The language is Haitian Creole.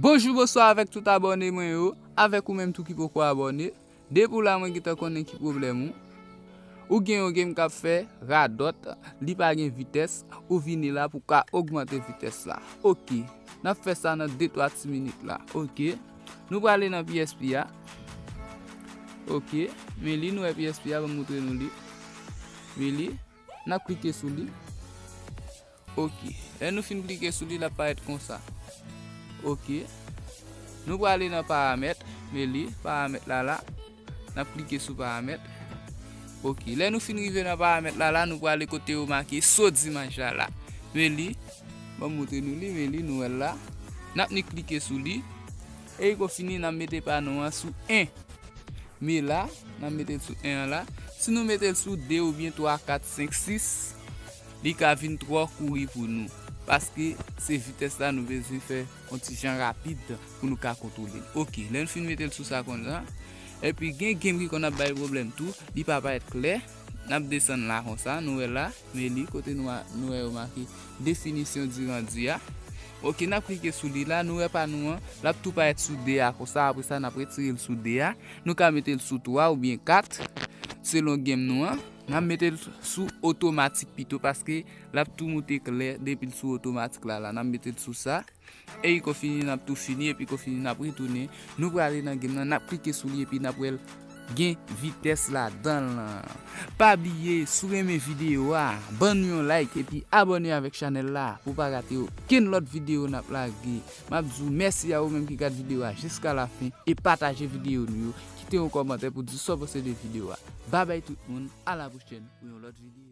Bonjou bonswa avèk tout abòne mwen yo, avèk ou menm tou ki poko abòne, depi w la mwen gentan konnen ki pwoblèm ou, ou gen yon game kap fè radòt, li pa gen vitès, ou vini la pou ka ogmante vitès la, ok, nap fè sa nan de twa ti minit la, ok. Nou prale nan PSP a. Ok. Men li nou e PSP a. Ban moutre nou li. Men li. Nap klike sou li. Ok. Lè nou fin klike sou li, la paret konsa. Ok. Nou prale nan paramet. Men li. Paramet la la. N ap klike sou paramèt. Ok. Lè nou fin rive nan paramèt la, la nou prale kote yo make so dimaj la la. Men li. Ban m montre nou li. Men li, nou wè l la. N ap ni klike sou li. E kou fini, n ap mete pano an sou 1. Men la, n ap mete l sou 1 an la. Si nou mete l sou 2 oubyen 3, 4, 5, 6, li ka vin twò kouri pou nou. Paske se vitès la nou bezwen fè. On ti jan rapid pou nou ka kontwole l. Ok, lè n fin mete l sou sa konsa. Epi gen game ki konn ap bay pwoblèm tou, li pa parèt klè. N ap desann la konsa, nou wè la, meli, kote nou a, nou wè yo make Définition du rendu a. Ok, n ap klike sou li la, nou wè pa nou an, l ap tou parèt sou 2 a konsa, apre sa n ap retire l sou 2 a. Nou ka mete l sou 3 oubyen 4, selon game nou an. N ap mete l sou otomatik pito paske. Lap tou moute klè depil sou otomatik la la nap metel sou sa eyi kon fini nap tou fini epi kon fini nap retounen nou prale nan game nan nap klike sou li epi nap wèl gen vitès ladanl lan pa bliye sou renmen video a ban nou yon like epi abòne avèk chanèl la pou pa rate okenn lòt video nap lage map di ou mèsi a ou menm ki gad video a jiska la fen e pataje video nou yo kite yon kòmantè pou di sa ou panse de video a babay tout moun a la pwochèn pou yon lòt video.